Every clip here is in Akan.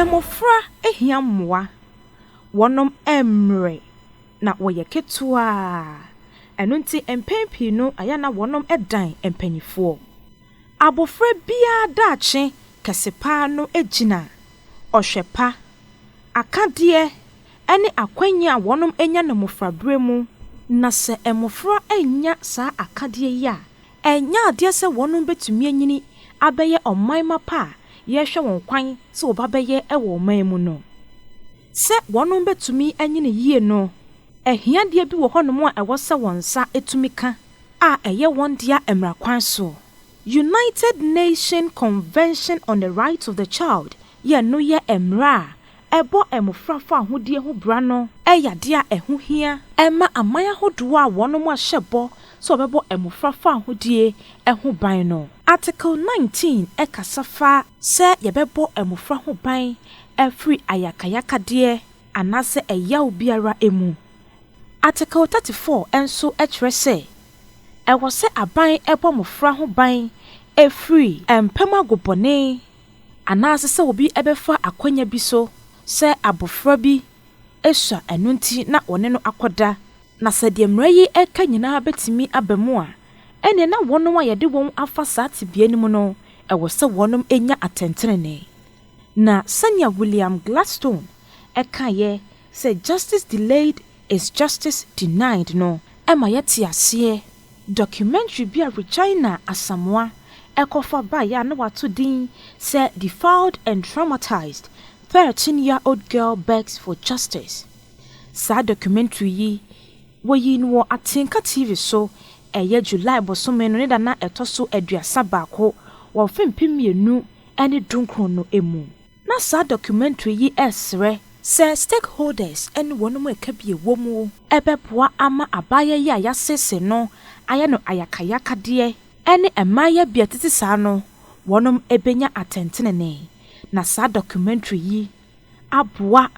Mmofra hia mmoa. Wɔnom mmrɛ na wɔyɛ ketewaa. Ɛno nti mpɛn pii no ɛyɛ a na wɔnom dan mpaninfoɔ. Abofra biara daakye kɛse paa no gyina. ɔhwɛ pa, akadeɛ, ne akwannya a wɔnom anya no mmofraberɛ mu, na sɛ mmofra annya saa akadeɛ yi a, ɛnyɛ adeɛ sɛ wɔnom bɛtumi anyini abɛyɛ ɔman mma pa a yɛhwɛ wɔn kwan sɛ wɔba bɛyɛ wɔ ɔman mu no. Sɛ wɔnom bɛtumi anyini yie no, ahiadeɛ bi wɔ hɔnom a ɛwɔ sɛ wɔn nsa tumi ka a ɛyɛ wɔn dea mmara kwan so. United Nation Convention on the Rights of the Child yɛ no yɛ mmra a ɛbɔ mmofra fahodie ho bra no. Ɛyɛ adeɛ a ɛho hia. Ɛma aman ahodoɔ a wɔnom ahyɛ bɔ sɛ wɔbɛbɔ mmofra fahodie ho ban no. Article nineteen ɛkasa fa sɛ yɛbɛbɔ mmofra ho ban afiri ayakayakadeɛ anaasɛ ɛyaw biara mu. Article thirty four nso ɛkyerɛ sɛ Ɛwɔ sɛ aban bɔ mmofra ho ban firi mpam agobɔne anaasɛ sɛ obi bɛfa akwanya bi so sɛ abofra bi sua ɛno nti na wɔne no akɔda. Na sɛ deɛ mmara yi ka nyinaa bɛtumi aba mu a, ɛnneɛ na wɔnom a yɛde wɔn afa saa tebea no mu no ɛwɔ sɛ wɔnom nya atɛntenenee. Na sɛnea William Gladstone kaeɛ Sɛ Justice Delayed is Justice Denied no ma yɛte aseɛ documentary bi a Regina Asamoah kɔfa baeɛ a na wato din sɛ Defiled and Traumatized, Thirteen Year Old Girl Begs for Justice. Saa documentary yi, wɔyii no wɔ Atenka TV so, ɛyɛ July bosome no ne da na ɛtɔ so aduasa baako wɔ mfe mpem mmienu ne dunkron no mu. Na saa documentary yi ɛsrɛ sɛ stakeholders ne wɔn mu ɛka bi ɛwɔ mu. Ɛbɛboa ama abaayewa yi a yɛasese no ayɛ no ayakayakadeɛ ɛne mmaayewa bi a ɛtete saa no wɔn ɛbɛnya atɛntenenee. Na saa documentary yi aboa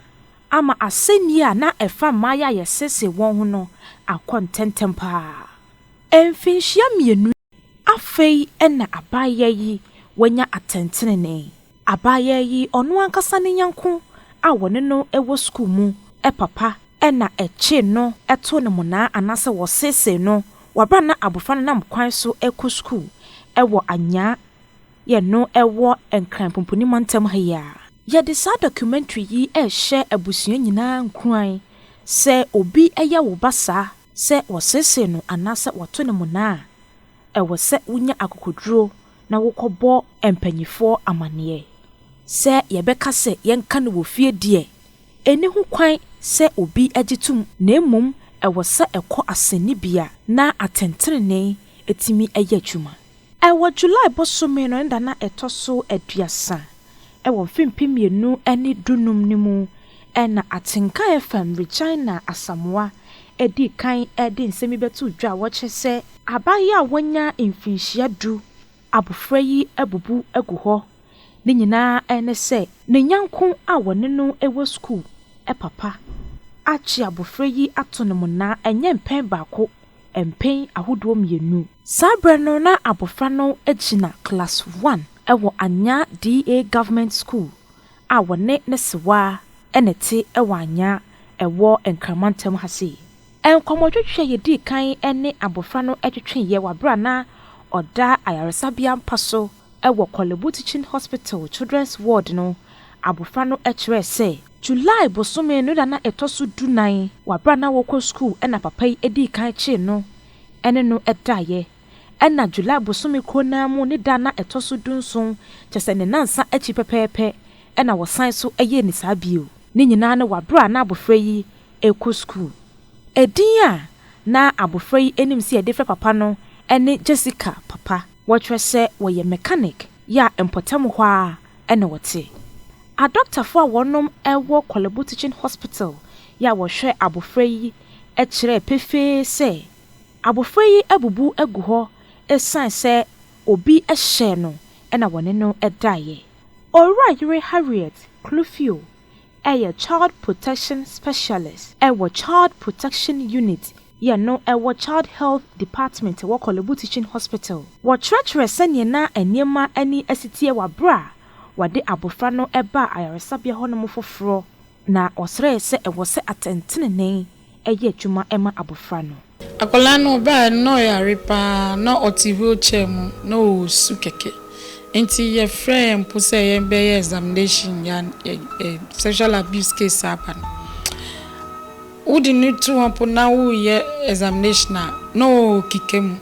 ama asɛnnie a na ɛfa mmaayewa a yɛsese wɔn ho no akɔ ntɛntɛm paa. Mfinhyia mmienu. Afei na abaayaa yi wanya atɛntenenee. Abaayaa yi, ɔno ankasa ne nyɛnko a wɔne no wɔ sukuu mu papa na ɛkyee no too no monaa anaasɛ wɔseesee no wɔ bere a na abofra no nam kwan so rekɔ sukuu wɔ Anyaa yɛ no wɔ Nkran Pumpuni Mantam ha yi a. Yɛde saa documentary yi rehyɛ abusua nyinaa nkuran sɛ obi yɛ wo ba saa Sɛ wɔseesee no anaasɛ wɔto no mmonnaa a, ɛwɔ sɛ wunya akokoduru na wokɔbɔ mpanyimfoɔ amanneɛ. Sɛ yɛbɛka sɛ yɛnka no wɔ fie deɛ, ɛnni ho kwan sɛ obi gye tom na mmom ɛwɔ sɛ ɛkɔ asɛnnibea na atɛntrenee tumi yɛ adwuma. Wɔ July bosome no ne da na ɛtɔ so aduasa wɔ mfe mpem mmienu ne du num no mu na atenka FM Regina Asamoah dii kan de nsɛm yi bɛtoo dwa a wɔkyerɛ sɛ, Abaayewa a wanya mfinhyia du, abofra yi abubu agu hɔ, ne nyinaa ne sɛ ne nyɛnko a wɔne no wɔ sukuu papa akye abofra yi ato no mmonnaa ɛnyɛ mpɛn baako mpɛn ahodoɔ mmienu. Saa berɛ no na abɔfra no gyina class one wɔ Anyaa DA Government School a wɔne ne sewa na ɛte wɔ Anyaa ɛwɔ Nkramantam ha sei. Nkɔmmɔtwetwe a yɛdii kan ne abɔfra no twetweeɛ wɔ berɛ a na ɔda ayaresabea mpa so Wɔ Korle Bu Teaching Hospital Children's Ward no, abofra no kyerɛe sɛ. July bosome no da no a ɛtɔ so dunan. Wɔ bere a na ɔrekɔ sukuu na papa yi dii kan kyee no ne no daeɛ. Ɛnna July bosome koro no ara mu ne da no a ɛtɔ so dunson, kyerɛ sɛ ne nnansa akyi pɛpɛɛpɛ na wɔsan so yɛɛ no saa bio. Ne nyinaa no wɔ bere a na abofra yi rekɔ sukuu. Edin a na abofra yi anim sɛ yɛde frɛ papa no ne Jessica Papa. Wɔkyerɛ sɛ wɔyɛ mechanic yɛ a mpɔtam hɔ ara na wɔte. Adɔktafo a wɔnom wɔ Korle Bu Teaching Hospital yɛ a wɔhwɛ abofra yi kyerɛɛ pefee sɛ abofra yi abubu agu hɔ esiane sɛ obi hyɛɛ no na wɔne no daeɛ. Owura yere Harriet Klufio. yɛ Child Protection Specialist wɔ Child Protection Unit yɛ no wɔ Child Health Department wɔ Korle Bu Teaching Hospital. Wɔkyerɛkyerɛ sɛdeɛ na nneɛma ani asiteɛ wɔ berɛ a wɔde abɔfra no baa ayaresabea hɔnom foforɔ na wɔsrɛɛ sɛ ɛwɔ sɛ atɛntenenee yɛ adwuma ma abɔfra no. Akwadaa no ɔbaeɛ no na ɔyare pa ara, na ɔte wheel chair mu, na ɔresu kɛkɛ. Nti yɛfrɛɛ yɛn mpo sɛ yɛbɛyɛ examination ya sexual abuse case aba no. Wode no to hɔ mpo na woreyɛ examination a, na ɔrekeka mu.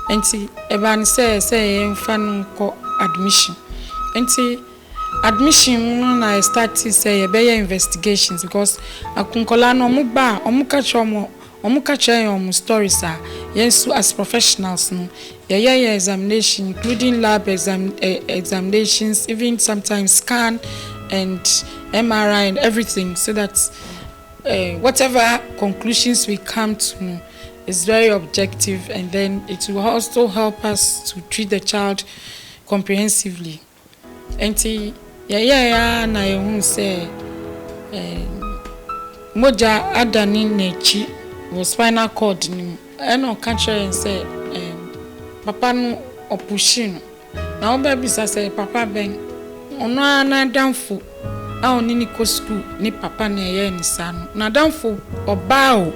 Nti ɛbaa no sɛ ɛsɛ sɛ yɛmfa no kɔ admission. Nti Admission mu no na yɛ startee sɛ yɛbɛyɛ investigations because ak nkwadaa no wɔn ba a wɔn ka kyerɛ wɔn wɔn ka kyerɛ yɛn wɔn stories a yɛn nso as professionals no yɛ yɛ yɛn examination including lab exam eh examinations even sometimes scan and MRI and everything so that eh whatever conclusions we come to no is very objective and then it will also help us to treat the child comprehensively. Enti yɛyɛe ara na yɛhuu sɛ mogya adane n'akyi wɔ spinal cord no mu. Ɛna ɔka kyerɛɛ yɛn sɛ papa no ɔpushii no. Na wobɛbisa sɛ papa bɛn? Ɔno ara n'adamfo a ɔne no kɔ sukuu ne papa na ɛyɛɛ no saa no. N'adamfo ɔba o,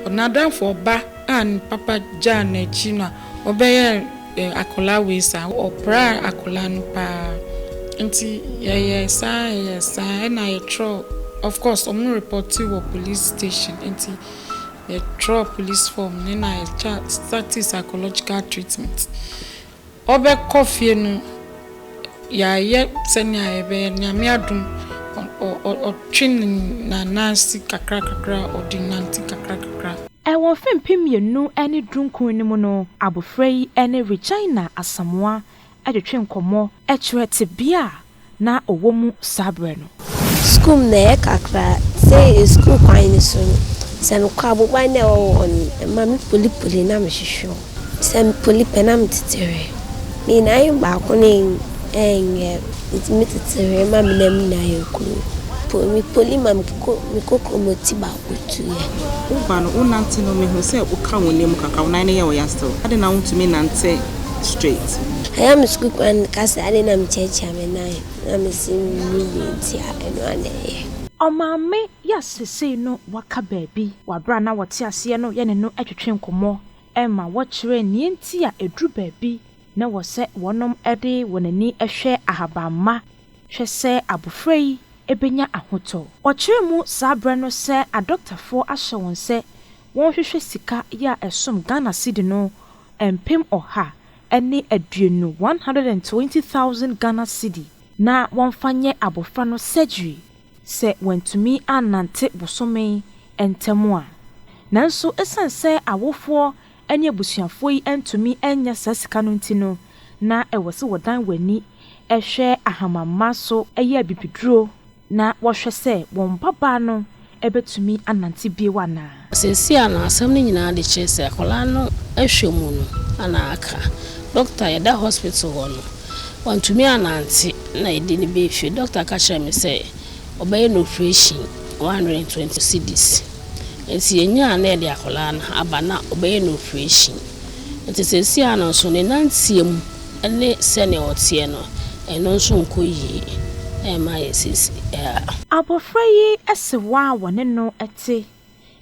n'adamfo ɔba a ne papa gyaa no akyi na ɔbɛyɛɛ Akwadaa wei saa, ɔpraa akwadaa no paa nti yɛyɛɛ saa yɛyɛɛ saa ɛna yɛtwerɛɛ of course wɔn repɔte wɔ police station nti yɛtwerɛɛ police form no na yɛtwa starti psychological treatment ɔbɛkɔ fie no yɛayɛ sɛnea yɛbɛyɛ nyame adom ɔtwe ne nanan si kakra kakra ɔde nante kakra kakra. Wɔ mfe mpem mmienu ne dunkron no mu no, abofra yi ne Regina Asamoah twetwe nkɔmmɔ kyerɛ tebea a na ɔwɔ mu saa bere no. Sukuu mu na ɛyɛ kakra. Sɛ sukuu kwan no so no, sɛ mekɔ a, aboban no a ɛwɔ hɔ no, ɛma me poli poli na mehwehwɛ mu. Sɛ me poli pɛ na metete hwe. Ne nyinaa yɛ baako na ɛnyɛ. Metumi tete hwe ma me nam nyinaa yɛ koro. Me poli ma me koko me koko mu ti baw. otuiɛ. Wo ba no, wo nante no mehu sɛ wo ka wo nan mu kakra, wo nan no yɛ wo ya still, adɛn na wo ntumi nnante straight? Ɛyɛ me sukuu kwan no ka sɛ adɛn na me kyiakyia me nan na me se menni bi nti a ɛno a na ɛyɛ. Ɔmaame yi a sesei no waka baabi wɔ bere a na wɔte aseɛ no yɛne no twetwe nkɔmmɔ ma wɔkyerɛɛ nea enti a ɛduru baabi na ɛwɔ sɛ wɔnom de wɔn ani hwɛ ahabamma Hwɛ sɛ abofra yi benya ahotɔ! Wɔkyerɛ mu saa bere no sɛ adɔktafoɔ ahyɛ wɔn sɛ wɔnhwehwɛ sika yi a ɛsom Ghana cedi no mpem ɔha ne aduonu, 120,000 Ghana cedi, na wɔmfa nyɛ abofra no surgery sɛ wantumi annante bosome ntam a. Nanso esiane sɛ awofoɔ ne abusuafoɔ yi antumi annya saa sika no nti no, na ɛwɔ sɛ wɔdan wɔn ani hwɛ ahamamma so yɛ abibiduro na wɔhwɛ sɛ wɔn mmabaa no bɛtumi anante bio anaa. Seesei a na asɛm no nyinaa de kyerɛ sɛ akwadaa no hwɛ mu no na aka. Dɔkta a yɛda hospital hɔ no, wantumi annante na yɛde no baa fie. Dɔkta ka kyerɛɛ me sɛ wɔbɛyɛ no oprehyɛn, 120 cedis. Nti yɛnyaa no na yɛde akwadaa no aba na wɔbɛyɛ no oprehyɛn. Nti seesei ara no nso ne nanteɛ mu ne sɛdeɛ ɔteɛ no, ɛno nso nkɔ yie mma yɛn seesei ara. Abɔfra yi sewa a wɔne no te,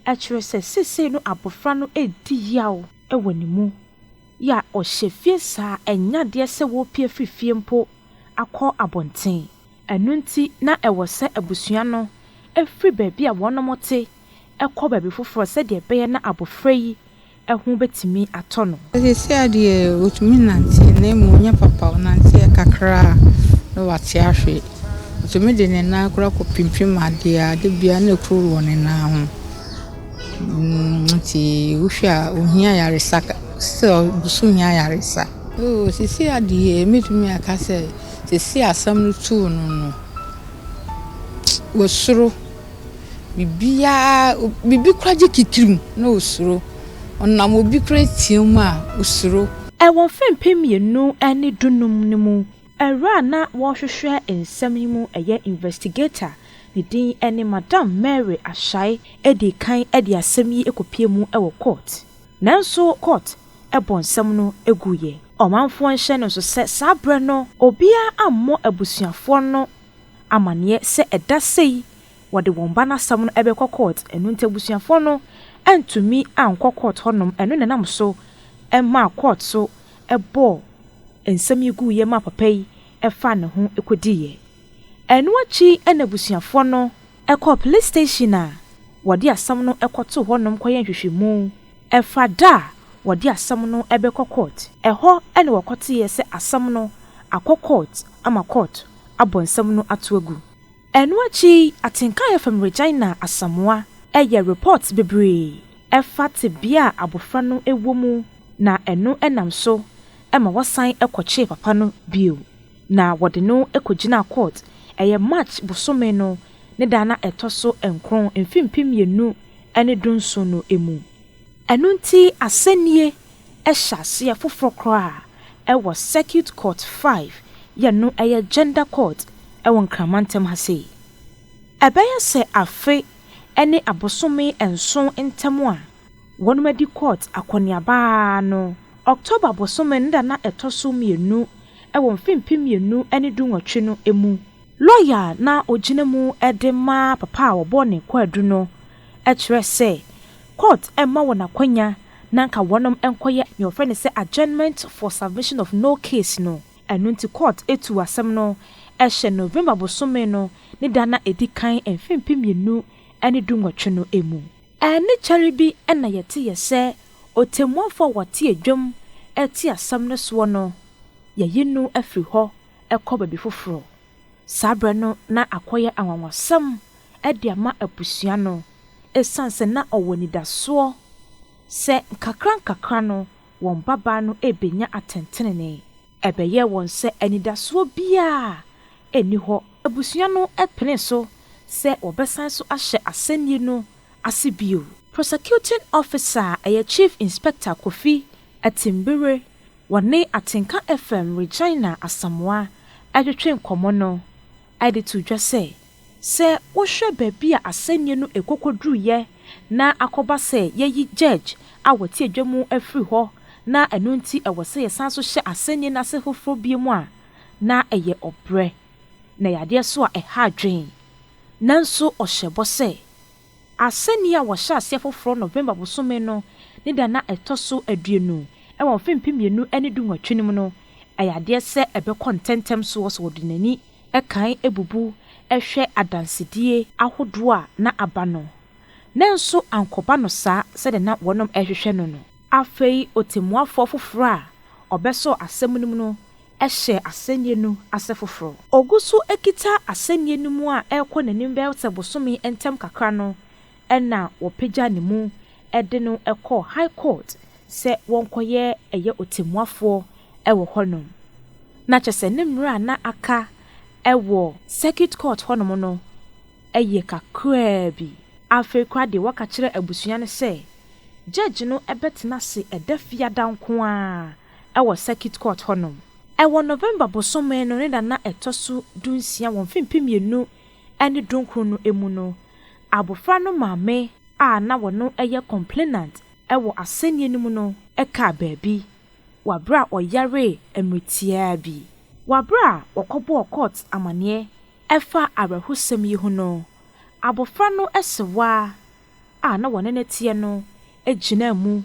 ɛkyerɛ sɛ seesei no abɔfra no redi yaw wɔ ne mu. Yɛ a ɔhyɛ fie saa a, ɛnyɛ adeɛ sɛ wɔrepue afiri fie mpo akɔ abɔnten. Ɛno nti na ɛwɔ sɛ abusua no firi baabi a wɔnom te kɔ baabi foforɔ sɛdeɛ ɛbɛyɛ na abɔfra yi ho bɛtumi atɔ no. Seesei deɛ ɔtumi nante na mmom ɔnyɛ papa, ɔnanteɛ kakra a na wate ahwe. Ɔtumi de ne nan koraa kɔpimpim adeɛ a, da biara na ɛkuru wɔ ne nan ho. Nti wohwɛ a ɔhia ayaresa, still ɔgu so hia ayaresa. Oo seesei deɛ mɛtumi aka sɛ. Sesei asɛm no tuu no no, wasuro. Biribiara, biribi koraa gye ti tirim na osuro. Ɔnam obi koraa teɛ mu a, osuro. Wɔ mfe mpem mmienu ne dunum no mu, awuraa a na wɔrehwehwɛ nsɛm yi mu yɛ investigator, ne din ne Madam Mary Ashai dii kan de asɛm yi kɔpuee mu wɔ kɔɔt. Nanso court bɔ nsɛm no guiɛ. Ɔmanfoɔ nhyɛ no nso sɛ saa berɛ no obiara ammɔ abusuafoɔ no amaneɛ sɛ ɛda sei wɔde wɔn ba no asɛm no bɛkɔ court, ɛno nti abusuafoɔ no antumi ankɔ court hɔnom, ɛno na ɛnam so maa court so bɔɔ nsɛm yi guiɛ maa papa yi faa ne ho kɔdiiɛ. Ɛno akyi na abusuafoɔ no kɔɔ police station a wɔde asɛm no kɔtoo hɔnom kɔyɛɛ nhwehwɛmu fa da a wɔde asɛm no bɛkɔ court. Ɛhɔ na wɔkɔteeɛ sɛ asɛm no akɔ court ama court abɔ nsɛm no ato agu. Ɛno akyi Atenkaeɛ Fam Regina Asamoah yɛɛ report bebree fa tebea a abɔfra no wɔ mu na ɛno nam so ma wɔsan kɔkyee papa no bio. Na wɔde no kɔgyinaa court, ɛyɛ March bosome no ne da na ɛtɔ so nkron mfe mpem mmienu ne du nson no mu. Ɛno nti asɛnnie hyɛaseɛ foforɔ koraa wɔ Circuit Court Five yɛ no yɛ Gender Court wɔ Nkrama ntam ha sei. Ɛbɛyɛ sɛ afe ne abosome nson ntam a wɔadi Kut akɔneaba ara no, October bosome no da na ɛtɔ so mmienu wɔ mfe mpem mmienu ne dunwɔtwe no mu. Lɔya a na ogyina mu de ma papa a wɔbɔɔ ne kwaadu no kyerɛɛ sɛ Kut mma wɔn akwanya na anka wɔnom nkɔyɛ nea wɔfrɛ no sɛ adjournment for submission of no case no. Ɛno nti Kut tuu asɛm no hyɛ November bosome no ne da na edi kan mfe mpem mmienu ne dunwɔtwe no mu. Ɛnne kyɛre bi na yɛte yɛ sɛ ɔtemmuafoɔ a wɔte adwam rete asɛm no soɔ no, yɛayi no afiri hɔ kɔ baabi foforɔ. Saa berɛ no na akɔyɛ anwanwasɛm de ama abusua no, ɛsiane sɛ na ɔwɔ anidasoɔ sɛ nkakrankakra no wɔn mmabaa no rebenya atɛntrenee. Ɛbɛyɛɛ wɔn sɛ anidasoɔ biara nni hɔ. Abusua no penee so sɛ wɔbɛsan so ahyɛ asɛnnie no ase bio. Prosecuting Officer a ɛyɛ Chief Inspector Kofi Atimbere, wɔne Atenka FM Regina Asamoah twetwee nkɔmmɔ no de too dwa sɛ, Sɛ wohwɛ baabi a asɛnnie no rekɔkɔduruiɛ na akɔba sɛ yɛayi Judge a ɔte adwa mu afiri hɔ na ɛno nti ɛwɔ sɛ yɛsan nso hyɛ asɛnnie no ase foforɔ biom a, na ɛyɛ ɔbrɛ, na ɛyɛ adeɛ nso a ɛha adwene. Nanso ɔhyɛɛ bɔ sɛ. Asɛnni a wɔhyɛ aseɛ foforɔ November bosome no ne da no a ɛtɔ so aduonu wɔ mfe mpem mmienu ne du nwɔtwe no mu no, ɛyɛ adeɛ sɛ ɛbɛkɔ ntɛntɛm soɔ sɛ wɔde n'ani kan bubu hwɛ adansedie ahodoɔ a na aba no, nanso ankɔba no saa sɛdeɛ na wɔnom rehwehwɛ no no. Afei ɔtɛmmuafoɔ foforɔ a ɔbɛsɔɔ asɛm no mu no hyɛɛ asɛnniɛ no ase foforɔ. Ɔgu so kita asɛnniɛ no mu a ɛrekɔ n'anim bɛyɛ sɛ bosome ntɛm kakra no na wɔpagya ne mu de no kɔɔ High Court sɛ wɔnkɔyɛ ɛyɛ ɔtɛmmuafoɔ wɔ hɔnom. Na kyerɛ sɛ ne mmerɛ a na aka wɔ Circuit Court hɔnom no Ɛyɛ kakraa bi. Afei koraa deɛ wɔka kyerɛ abusua no sɛ Judge no bɛtena ase ɛda fiada nko ara wɔ Circuit Court hɔnom. Ɛwɔ November bosome no ne da na ɛtɔ so dunsia wɔ mfe mpem mmienu ne dunkron no mu no, abofra no maame a na ɔno yɛ complainant wɔ asɛnnie no mu no kaa baabi wɔ bere a ɔyaree mmeretiaa bi wɔ bere a wɔkɔbɔɔ court amanneɛ Ɛfa awerɛhosɛm yi ho no, abofra no asewa a na wɔne no teɛ no gyinaa mu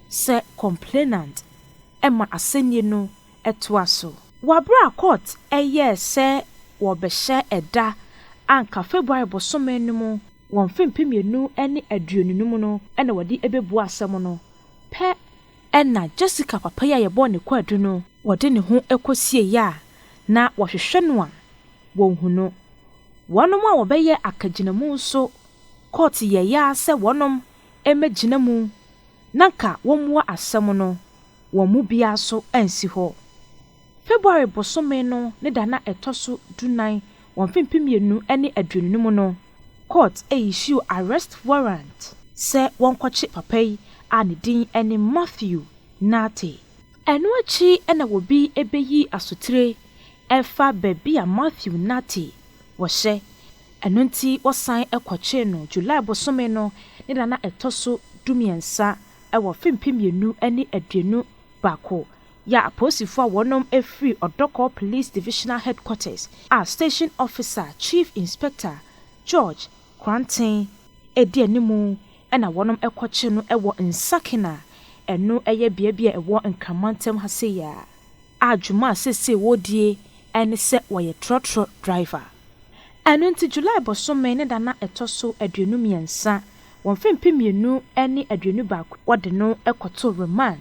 sɛ complainant ma asɛnni no toa so. Wɔ bere a kɔɔt yɛɛ sɛ wɔrebɛhyɛ da a anka February bosome no mu wɔ mfe mpem mmienu ne aduonu no mu no na wɔde bebua asɛm no pɛ Ɛnna Jessica papa yi a yɛbɔɔ ne kwaadu no, wɔde ne ho kosiei a na wɔhwehwɛ no a wɔnhu no. Wɔnom a wɔbɛyɛɛ akagyinamu nso kɔɔt yɛeɛ ara sɛ wɔnom mmɛgyina mu na nka wɔmmua asɛm no, wɔn mu biara nso ansi hɔ. February bosome no ne da na ɛtɔ so dunan wɔ mfe mpem mmienu ne aduonu no mu no, kɔɔt issuew arrest warrant sɛ wɔnkɔkye papa yi a ne din ne Matthew Nartey. Ɛno akyi na obi beyi asotire ɛfa baabi a Matthew Nartey wɔ hyɛ, ɛno nti wɔsan kɔkyee no July bosome no ne da na ɛtɔ so dumiɛnsa wɔ mfe mpem mmienu ne aduonu baako Yɛ apolisifo a wɔnom firi Odorkor Police Divisional Headquarters a Station Officer Chief Inspector George Kranten di animu na wɔnom kɔkye no wɔ Nsakin a ɛno yɛ bea bi a ɛwɔ Nkran Mantam ha sei a a dwuma a seesei wɔredie ne sɛ wɔyɛ trɔtrɔ driver. Ɛno nti July bosome ne da no a ɛtɔ so aduonu mmiɛnsa wɔ mfe mpem mmienu ne aduonu baako wɔde no kɔto remand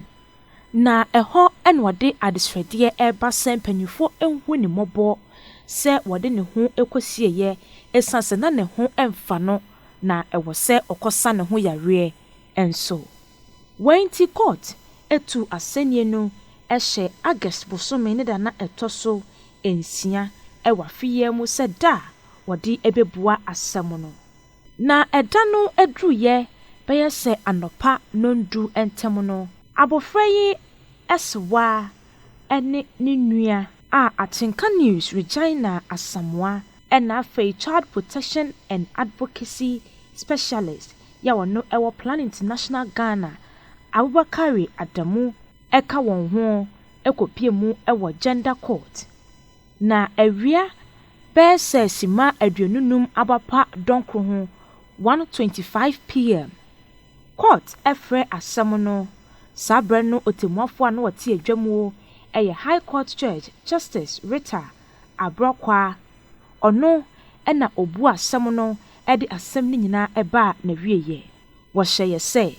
Na ɛhɔ na ɔde adesrɛdeɛ reba sɛ mpanimfoɔ nhu ne mmɔbɔ sɛ wɔde ne ho kɔsieeɛ ɛsiane sɛ na ne ho mfa no na ɛwɔ sɛ ɔkɔsa ne ho yareɛ nso. Wei nti kɔɔt tuu asɛnnie no hyɛ August bosome ne da na ɛtɔ so nsia wɔ afeyaa mu sɛ da a wɔde bɛbua asɛm no. Na ɛda no aduruyɛ bɛyɛ sɛ anɔpa nnɔndu ntam no, abofra yi asewa ne ne nua a Atenka News, Regina Asamoah, ɛna afei Child Protection and Advocacy Specialist yi a ɔno ɛwɔ Plan International Ghana, Abubakari Adamu ɛka wɔn ho kɔpie mu wɔ Gender Court. Na awia bɛyɛ sɛ simma aduonu num aba pa dɔnkoro ho, 1:25 PM. Court frɛ asɛm no, saa berɛ no ɔtɛmmuafoɔ a na ɔte adwa muo yɛ High Court Judge Justice Rita Abrɔkwaa, ɔno na ɔbuu asɛm no de asɛm no nyinaa baa n'awieɛ. Wɔhyɛeɛ sɛ,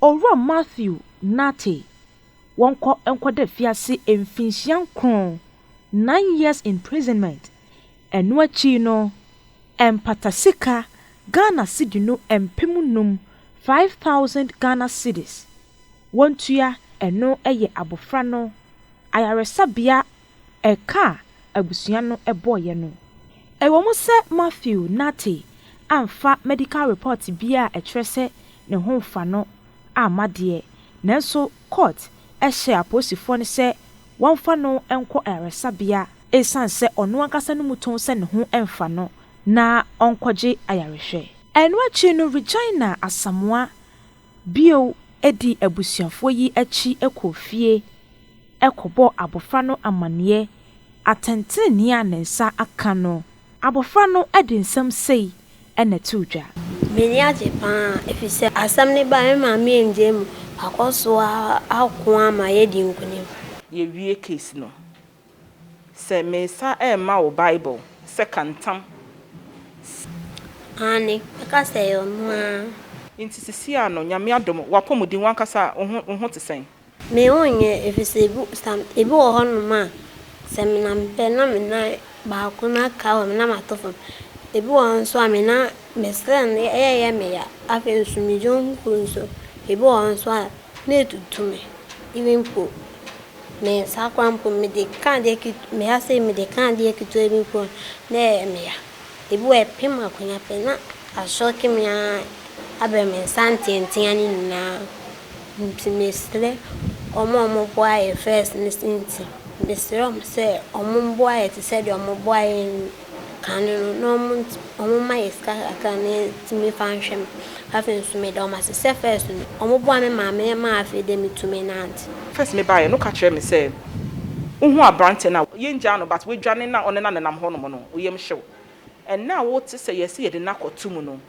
Owura Matthew Nartey, wɔnkɔ nkɔda afiase mfinhyia nkron, nine years imprisonment, ɛno akyi no ɛmpata sika Ghana cedi no mpem num, five thousand Ghana cedis, wɔntua, ɛno yɛ abofra no ayaresabea Ɛka a abusua no bɔeɛ no, Ɛwɔ mu sɛ Matthew Nartey amfa medical report biara a ɛkyerɛ sɛ ne ho mfa no amma deɛ, nanso court hyɛɛ apolisifoɔ no sɛ wɔmfa no nkɔ ayaresabea, ɛsiane sɛ ɔno ankasa no mu tɔn sɛ ne ho mfa no, na ɔnkɔgye ayarehwɛ. Ɛno akyi no Regina Asamoah Bio, di abusuafoɔ yi akyi kɔ fie kɔbɔ abɔfra no amaneɛ atɛntenenee a ne nsa aka no. Abɔfra no de nsɛm sei na ɛtoo dwa. M'ani agye pa ara efisɛ asɛm no bae a me maame angyae mu, wakɔ so ara ako ama yɛadi nkonim. Yɛwie case no, Sɛ meresan rema wo Bible sɛ ka ntam s. Aane, ɛka sɛ ɛyɛ ɔno ara. Nti sisiaa no, Nyame adom, w'apɔmuden, w'ankasa wo ho, wo ho te sɛn? Me ho nyɛ, efisɛ ebi, some, ebi wɔ hɔnom a, sɛ menam pɛ na me nan baako no aka hɔ, me nam ato fam. Ebi wɔ hɔ nso a, me nan, me srɛ no, ɛyɛ yɛ me ya. Afei nso, me gyomfo nso, ebi wɔ hɔ nso a. Na etutu me even mpo me nsa koraa mpo mede ka adeɛ ket me ha sei mede ka adeɛ ketewa bi mpo a na ɛyɛ me ya. Ebi wɔ ɛpem akonnwa pɛ na asɔke me ara abɛn me nsa nteatea no nyinaa. Nti mesrɛ wɔn a wɔboa yɛ first no nti mesrɛ wɔn sɛ wɔmmoa yɛ te sɛ deɛ wɔboa yɛn Kane no na ɔmo ntsi ɔmo mma yɛ sika kakra na yɛtse me fa nhwɛ me. Afei nso me da ɔmo ase sɛ first no ɔmo boa me maa me yɛ maa afei dɛ me tumi nantse. First me baeɛ no ka kyerɛ me sɛ wohu abranteɛ no a yɛn gyaa no but wadwane na ɔne no anenam hɔ nom no wo yɛm hyew ɛnɛ a wo te sɛ yɛse yɛde no akɔ to mu no.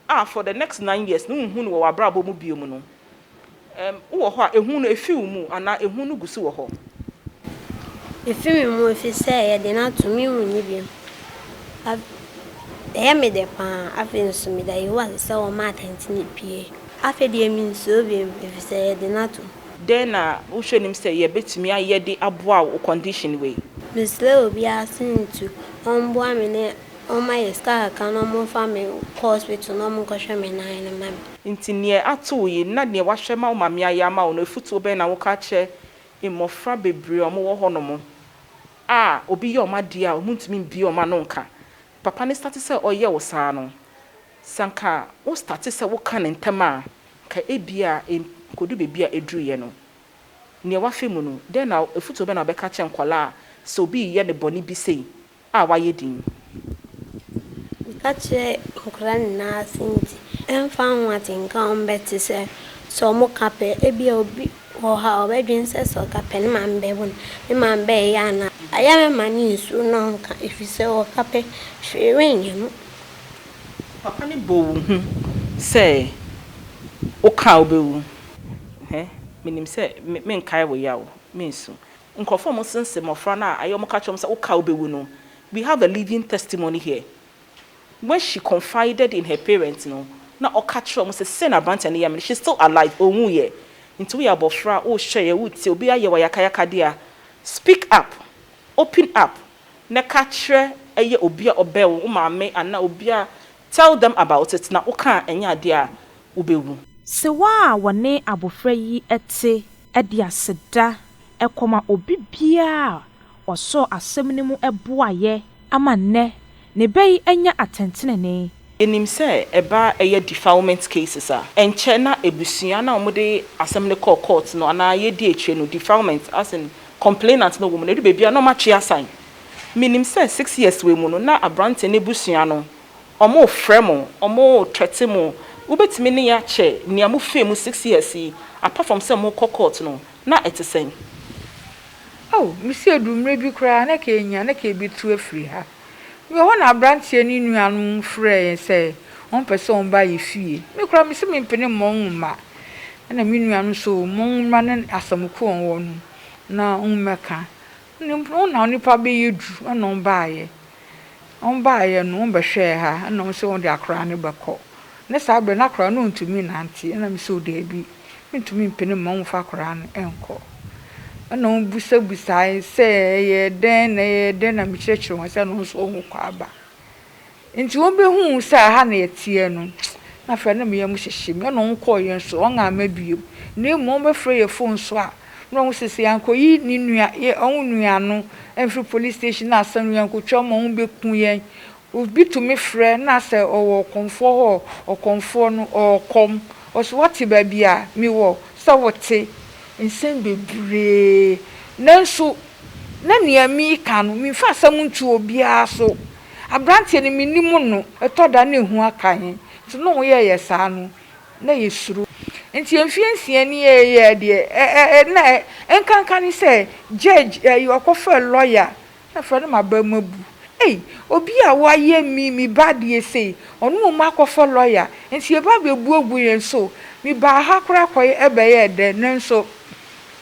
a for the next nine years no wonhu no wɔ w'abrabɔ mu bio mu no, ɛm, wowɔ hɔ a, ehu no efi wo mu anaa ehu no gu so wɔ hɔ? Efi me mu efisɛ ɛyɛ den ato me nhu no bio. Af, ɛyɛ me dɛ pa ara. Afei nso meda Yehowa ase sɛ ɔma atɛntrenee pue. Afei deɛ minsuro bio efisɛ ɛyɛ den ato me. Dɛn na wohwɛ nim sɛ yɛbɛtumi ayɛ de aboa wo condition wei? Mesrɛ obiara sɛ ntu ɔmboa me ne Wɔma yɛ sika kakra na wɔmfa me nkɔ hospital na wɔnkɔhwɛ me nan no ma me. Nti neɛ ato wo yi na neɛ wahwɛ ma wo maame ayɛ ama wo no afutuo bɛn na woka kyerɛ mmɔfra bebree a wɔwɔ hɔ nom a obi yɛ wɔn adeɛ a wɔntumi mbue wɔn ano nka papa no starte sɛ ɔyɛ wo saa no? Sɛ anka wo starte sɛ woka no ntɛm a anka ebia ɛnkɔdu baabi a ɛduruiɛ no. Neɛ wafa mu no dɛn na afutuo bɛn na wobɛka akyerɛ nkwadaa a sɛ obi reyɛ no bɔne bi sei a wayɛ din. Meka kyerɛ nkwadaa nyinaa ase nti, ɛmfa ho atenka a wɔbɛte sɛ, sɛ wɔka pɛ. Ebia obi wɔ hɔ a, ɔbɛdwene sɛ, sɛ ɔka pɛ, ne maame bɛbɔ no, ne maame bɛyɛ anaa? Ayɛ me ma no nsuro na ɔnka, ɛfiri sɛ ɔka pɛ, hwee renyɛ no. Papa no bɔ wo hu sɛ woka a wobɛwu. Hɛ, menim sɛ merenkae wo yaw, merensu. Nkurɔfoɔ a wɔsensɛn mmɔfra no a wɔka kyerɛ wɔn sɛ, Wo ka wobɛwu no, we have a living testimony here. When she confided in her parents no, na ɔka kyerɛ wɔn sɛ, Sei na aberanteɛ no yɛ me no, she's still alive, ɔnwuiɛ. Nti woyɛ abɔfra a, wohwɛeɛ, wotiee, obi ayɛ wo ayakayakadeɛ a, speak up, open up, na ka kyerɛ ɛyɛ obi a ɔbɛn wo, wo maame anaa obi a, tell them about it, na woka a, ɛnyɛ adeɛ a wobɛwu. Sewaa a wɔne abɔfra yi te de aseda kɔma obi biara a ɔsɔɔ asɛm no mu boaeɛ ama nnɛ ne bɛ yi anya atɛntenenee. Yɛnim sɛ ɛba a ɛyɛ defilement cases a, ɛnkyɛ na abusua no a wɔde asɛm no kɔɔ court no anaa yɛdi akyire no, defilement as in complainant no wɔ mu no, ɛdu baabi a na wɔatwe asan. Menim sɛ six years wei mu no, na aberanteɛ no abusua no wɔrefrɛ mo, wɔrethreaten mo, wobɛtumi ne yɛ akyɛ nea mofaa mu six years yi, apart from sɛ mokɔ court no, na ɛte sɛn? Oh, mese ɛduu mmerɛ bi koraa na ɛka ɛnya, na ɛka ɛbɛtu afiri ha. Mewɔ hɔ na aberanteɛ ne nuanom frɛɛ yɛn sɛ wɔpɛ sɛ wɔba yɛ fie. Me koraa mese mempene mma wɔn mma. Ɛna me nuanom nso, mma wɔn mmra ne asɛm ko a wɔwɔ no na wɔmmɛka. Nim wo na onipa bɛyɛ du ɛna wɔn baeɛ wɔn baeɛ no wɔn bɛhwɛɛ ha ɛna wɔn sɛ wɔn de akwadaa no bɛkɔ ne saa berɛ no akwadaa no ntumi nnante ɛna me sɛ o daabi mentumi mpene mma wɔn mfa akwadaa no nkɔ ɛna wɔn bisabisaeɛ sɛ ɛyɛ dɛn na ɛyɛ dɛn na mekyerɛkyerɛ wɔn sɛ ɛno nso wɔn kɔ aba Ntsi wobehun sɛ aha na yɛtseɛ no, nna afei nna me yamu hyehye me, nna ɔnnkɔɔ hɛn sor, ɔnngye amma bio, na mbom ɔbɛfrɛ yɛ fon so a, nna ɔnwo sɛ sɛ yɛannkɔyi ne nua, yɛ, ɔnwo nua no mfir police station na asan no, yɛannkotwa ɔmo a, ɔnwo beku hɛn. Obi tu me frɛ na sɛ ɔwɔ ɔkɔmfoɔ hɔ a, ɔkɔmfoɔ no, ɔwɔ kɔm, ɔse wɔtse baabi a mewɔ, sɛ wotse, nsɛm beberee, nanso na nea meekã no, memmfa asɛm nnto obiara so. Aberanteɛ no, mennim no. Ɛtɔ da na ehu aka yɛn. Nti na ɔmo yɛɛyɛ saa no, na yɛsuro. Nti mfeɛ nsia ni yɛ yɛɛ deɛ ɛ ɛ ɛ na ɛ nkanka ne sɛ judge ɛyi ɔkɔfrɛɛ lawyer na afrɛ no maba mu abu. Ei! Obi a wayɛ me me ba adeɛ sei, ɔno mmom akɔfa lawyer. Nti yɛba abɛbu agu yɛn so. Me baa ha koraa kɔyɛ ɛbɛyɛɛ dɛ nanso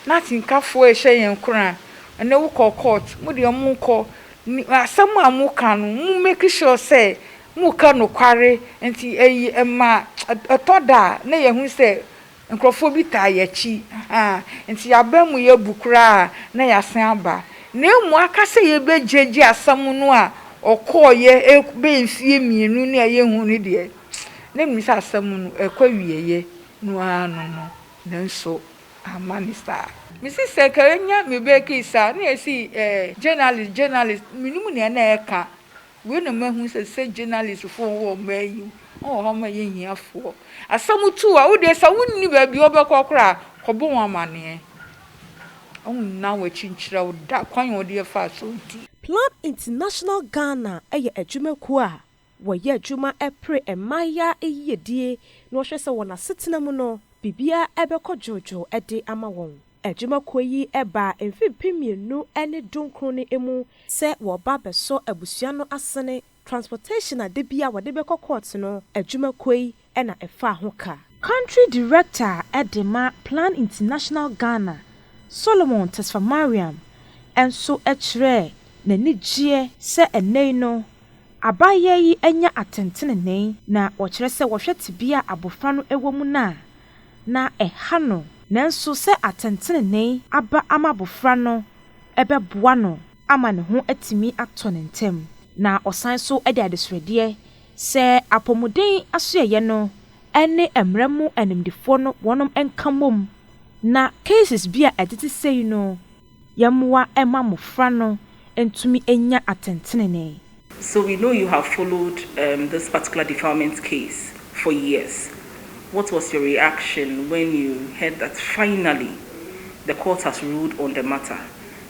na atenkafoɔ rehyɛ yɛn nkuran. Ɛnɛ wokɔɔ court, mo deɛ monkɔ. Asɛm a moka no, mo make sure sɛ moka nokware. Nti ɛy ɛma ɛtɔ da a na yɛhu sɛ nkurɔfoɔ bi taa yɛn akyi. Ahaa. Nti yɛn abamu yɛ bu koraa a na yɛasan aba. Na mmom aka sɛ yɛbɛgyagya asɛm no a ɔkɔeɛ ɛk bɛyɛ mfeɛ mmienu ne a yɛnhuu no deɛ, na menim sɛ asɛm no ɛkɔ awieeɛ no ara no no. Nanso amma no saa. Me sister kari nya me bɛki saa na yɛsi eh journalist journalist menim nea na ɛka wei na mahu sɛ sɛ journalist foɔ wɔ ɔman yi mu wɔn wɔ hɔ ma yɛ hia foɔ asɛm tu a wodeɛ sɛ wonni baabi a wobɛkɔ koraa kɔbɔ wɔn amaneɛ wɔn nna wɔn akyi nkyerɛ wo da kwan a wodeɛ faa so nti. Plan International Ghana yɛ adwumakuo a Wɔyɛ adwuma pere mmaayaa yiyedie na wɔhwɛ sɛ wɔn asetena mu no, biribiara bɛkɔ dwoodwoo de ama wɔn. Adwuma kuo yi baa mfe mpem mmienu ne dunkron no mu sɛ wɔreba abɛsɔ abusua no asene. Transportation a da biara wɔde bɛkɔ court no, adwuma kuo yi na ɛfaa ho ka. Country Director a de ma Plan International Ghana, Solomon Tesfamariam nso kyerɛɛ n'anigyeɛ sɛ ɛnnɛ yi no abaayewa yi anya atɛntenenee na wɔkyerɛ sɛ wɔhwɛ tebea a abɔfra no wɔ mu no a, na ɛha no nanso sɛ atɛntenenee aba ama abɔfra no ɛbɛboa no ama ne ho atumi atɔ no ntɛm na ɔsan nso de adesrɛdeɛ Sɛ apɔmuden asoɛeɛ no ne mmara mu animdefoɔ no wɔnom nka mmom na cases bi a ɛtete sei no yɛmmoa mma mmofra no ntumi nnya atɛntenenee. So we know you have followed um this particular defilement case for years, what was your reaction when you heard that finally the court has ruled on the matter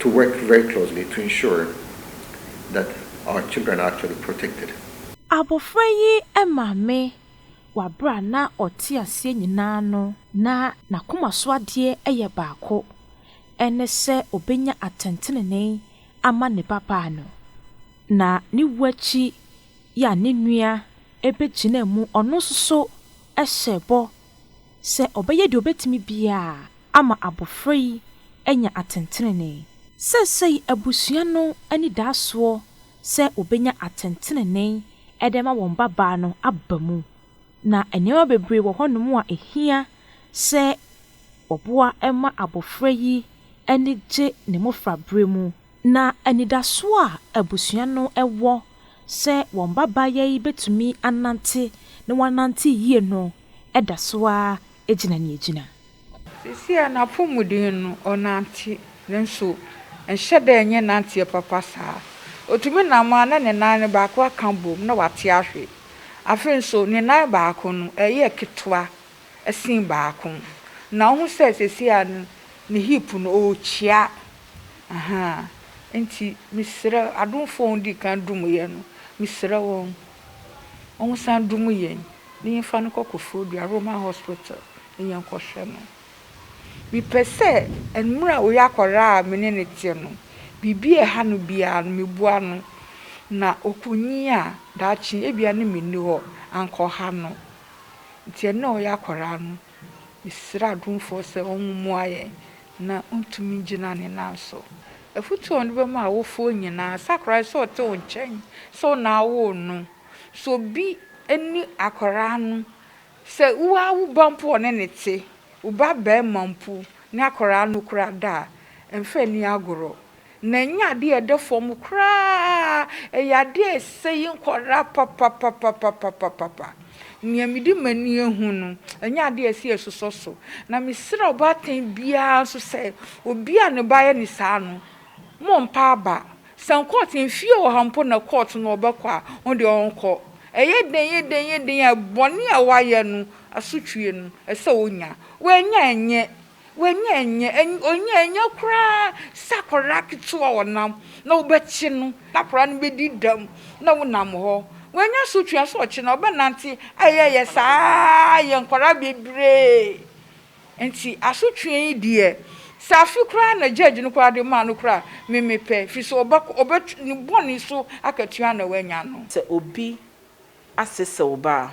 to work very closely to ensure that our children are actually protected. Abofra yi maame wɔ aber a na ɔtse aseɛ nyina no, na n'akoma so adeɛ yɛ baako, ɛne sɛ obenya atɛntrenee ama ne babaa no. Na ne wu akyi yi a ne nua begyinaa mu, ɔno nso so hyɛɛ bɔ sɛ ɔbɛyɛ deɛ ɔbɛtumi biara ama abɔfra yi anya atentenenee. Seesei abusua no ani daa soɔ sɛ wɔbɛnya atentenenee de ama wɔn babaa no aba mu, na nneɛma bebree wɔ hɔnom a ɛhia sɛ wɔboa ma abɔfra yi ani gye ne mmɔfraberɛ mu. Na anidaso a abusua no wɔ sɛ wɔn mmabaawa yi betumi anante na wɔanante yie no da so ara gyina nea egyina. Seesei a n'apɔmuden no, ɔnante, nanso ɛnhyɛ da nyɛ nanteɛ papa saa. Otumi nam a na ne nan no baako aka abom na wate ahwe. Afei nso, ne nan baako no, ɛyɛ ketewa sen baako, na wuhu sɛ seesei no, ne hip no, ɔrekyia. Ahaa nti mesrɛ adomfoɔ a wɔdii kan dom yɛn no, mesrɛ wɔn, wɔnsan dom yɛn na yɛmfa no nkɔ Koforidua Roma Hospital na yɛnkɔhwɛ no. Mepɛ sɛ mmerɛ a ɔyɛ akwadaa a me ne no te no, biribi a ɛha no biara no, meboa no, na ɔkɔnyin a, daakye ebia ne me nni hɔ, anka ɔha no. Nti ɛnnɛ a ɔyɛ akwadaa no, Yɛsrɛ adomfoɔ sɛ wɔmmoa yɛn na ɔntumi ngyina ne nan so. Afotuo a ɔde bɛma awofoɔ nyinaa sɛ akwadaa sɛ ɔte wo nkyɛn sɛ wo na awoo no, sɛ obi ni akwadaa no, sɛ wo ara wo ba mpo ɔne no te, wo ba barima mpo ne akwadaa no kura da a, mfa nni agorɔ. Na ɛnyɛ adeɛ a ɛda fam koraa, ɛyɛ adeɛ a ɛsɛe nkwadaa papapapapapapa. Nea mede m'ani ahu no, ɛnyɛ adeɛ a ɛsɛ sɛ yɛsosɔ so. Na mesrɛ ɔbaatan biara nso sɛ, obi a ne ba ayɛ no saa no, mommpa aba. Sɛ kɔɔto, mfeɛ ɔha mpo na kɔɔto na ɔbɛkɔ a, ɔno deɛ ɔnkɔ. Ɛyɛ den, ɛyɛ den, ɛyɛ den a, bɔne a wayɛ no asotweɛ no, ɛsɛ sɛ ɔnya. Wannya a, ɛnyɛ W'enyi nnyɛ, enyi, onyi nnyɛ koraa sɛ akwadaa ketewa a ɔnam, na wobɛkye no, na akwadaa no bɛdi dɛm, na wonam hɔ. Wanya so tua sɛ ɔkyena ɔbɛnante ayɛyɛ saa ara, yɛ nkwadaa bebree. Nti asotwea yi deɛ, sɛ afe koraa na gyɛɛgye no koraa de maa no koraa a, me mepɛ, firi sɛ ɔbɛkɔ, ɔbɛt, ne bɔne so akatua na wanya no. Sɛ obi asesaw ba a,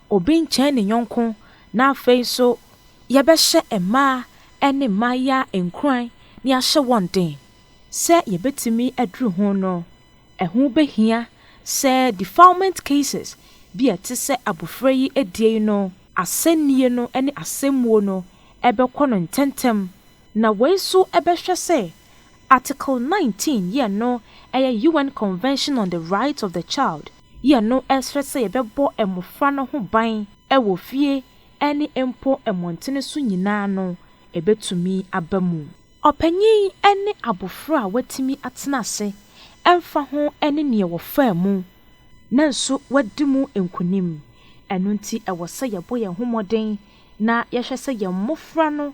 Obi nkyɛn ne yɔnko, na afei nso yɛbɛhyɛ mmaa ne mmaayaa nkuran na yɛahyɛ wɔn den sɛ yɛbɛtumi aduru ho no, ɛho bɛhia sɛ defilement cases bi a ɛte sɛ abofra yi adie yi no, asɛnnie no ne asɛmmuo no bɛkɔ no ntɛntɛm, na wei nso bɛhwɛ sɛ Article 19 yɛ no yɛ UN Convention on the Rights of the Child, Yɛ no srɛ sɛ yɛbɛbɔ mmofra no ho ban wɔ fie ne mpo mmɔntene so nyinaa no, ɛbɛtumi aba mu. Ɔpanyin ne abofra a watumi atena ase ɛmfa ho ne nea wɔfaa mu nanso wadi mu nkonim. Ɛno nti ɛwɔ sɛ yɛbɔ yɛn ho mmɔden na yɛhwɛ sɛ yɛn mmofra no